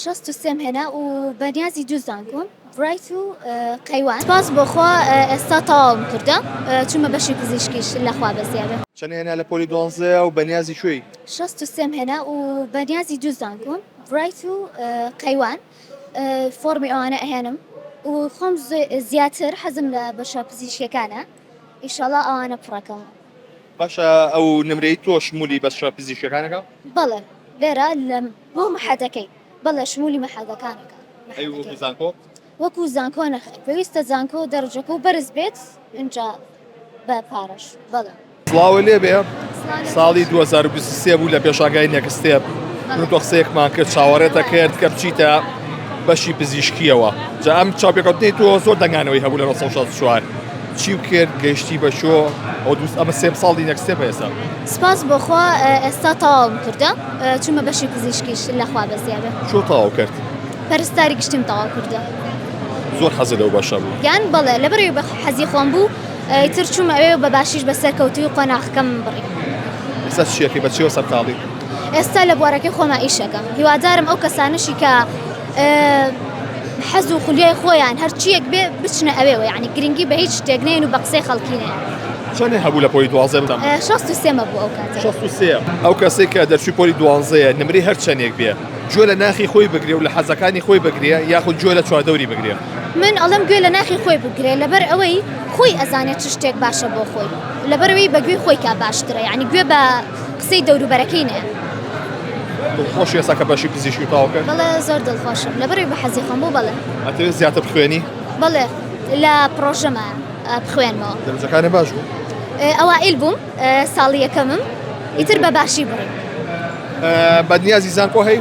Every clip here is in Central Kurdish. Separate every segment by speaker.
Speaker 1: شەست و سێم هێنا و بە نیازی دوو زانکۆم، برایت و قەیوان. سپاس بۆ خوا ئێستا تەواوم کردە، چوومە بەشی پزیشکیش لە خوا بەزییابێ. چەند هێنا لە پۆلی
Speaker 2: دوانزەیا و بە نیازی کوێی؟ شەست و سێم هێنا
Speaker 1: و بە نیازی دوو زانکۆم، برایت و قەیوان. فۆڕمی ئەوانە ئەهێنم و خۆم زیاتر حەزم لە بەشە پزیشکیەکانە، ئیشاڵا ئەوانە پڕەکەم. باشە
Speaker 2: ئەو نمرەی تۆش مولی بەشە پزیشکیەکانەکە؟ بەڵێ
Speaker 1: لێرە لە. بۆ مەحەدەکەی بەڵێ شمولی مەحەدەکانەکە. ئەی وەکو زانکۆ؟
Speaker 2: وەکو زانکۆ
Speaker 1: نەخێر پێویستە زانکۆ دەرەجەکەو بەرز بێت ئینجا بە پارەش بەڵێ. سڵاوو لێبێ
Speaker 2: ساڵی دوو هەزار و بیست و سێ بوو لە پێشانگای نێکستێپ من تۆ قسەیەکمان کرد چاوەڕێتە کرد کە بچیتە بەشی پزیشکیەوە جا ئەم چاپێکەوتنی تۆ زۆر دەنگانەوەی هەبوو لە 1964 چی کرد گەشتی بە شۆ ئەو دوست ئەمە سێم ساڵی نێکستێپ ئێستا سپاس بۆخوا
Speaker 1: ئێستا تەواوم کردە چومە بەشی پزیشکیش اللە خوا بەزیا بێ. چۆ تەواو کرد؟
Speaker 2: پەرستاری گشتیم
Speaker 1: تەواو کردوە. زۆر
Speaker 2: حەزت لەو بەشە بوو؟ یان بەڵێ لەبەر ئەوی
Speaker 1: حەزی خۆم بوو ئیتر چوم ئەوێ بە باشیش بە سەرکەوتووی قۆناخەکەم بڕی. ئێستا چ
Speaker 2: شتێکی بە چیەوە سەرقاڵی؟ ئێستا لە
Speaker 1: بوارەکەی خۆما ئیش ئەکەم هیوادارم ئەو کەسانەشی کە حەز و خولیای خۆیان هەرچیەک بێ بچنە ئەوێوە یعنی گرنگی بە هیچ شتێک نێن و بە قسەی خەڵکی نێن. چەنێ هەبوو لە پۆلی
Speaker 2: دوازدە بتان؟ اه، شەست و سێمە بوو ئەو
Speaker 1: کاتە شەست و سێ ئەو کەسێک
Speaker 2: کە دەرچوی پۆلی دوانزەیە نمری هەر چەندێک بێ گوێ لە ناخی خۆی بگرێ و لە حەزەکانی خۆی بگرێ یاخود گوێ لە چواردەوری بگرێ من ئەڵم گوێ
Speaker 1: لە ناخی خۆی بگرێ لەبەر ئەوەی خۆی ئەزانێت چ شتێک باشە بۆ خۆی لەبەرەوەی بە گوێی خۆی کا باشترە یعنی گوێ بە قسەی دەوروبەرەکەی نێ
Speaker 2: دڵخۆش ێسا کە بەشی پزیشکی تاو کرد بەڵێ زۆر دڵخۆشم
Speaker 1: لەبەرەوەی بە حەزی خۆم بۆ بەڵێ ئەتەوێت زیاتر بخوێنی
Speaker 2: بەڵێ
Speaker 1: لە پرۆژەمە بخوێنمەوە دەرجەکانێ باش بوو
Speaker 2: ئەوائیل بووم
Speaker 1: ساڵی یەکەمم ئیتر بە باشی بوو
Speaker 2: بەدنیازی زانکۆ هەی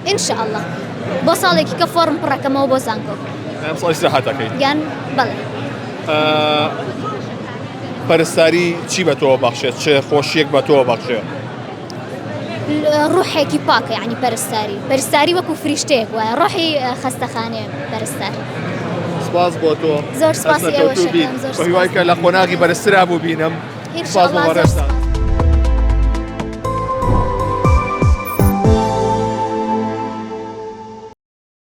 Speaker 2: ئینشاءله
Speaker 1: بۆ ساڵێکی کە فۆرم پڕەکەمەوە بۆ زانکۆ ساڵیسەحاتەکەی
Speaker 2: یان بەڵێ پەرستاری چی بە تۆ بەخشێت چێ خۆشیەک بە تۆ بەخشێت
Speaker 1: ڕوحێکی پاکە ینی پەرستاری پەرستاری وەکو فریشتێک وایە ڕۆحی خەستەخانێ پەرستار سپاس
Speaker 2: بۆ تۆ زۆر سپاس هیوای کە لە
Speaker 1: قۆناغی بەرزترا
Speaker 2: بوو
Speaker 1: بینم
Speaker 2: سپاس
Speaker 1: بۆ
Speaker 2: ڕێستان.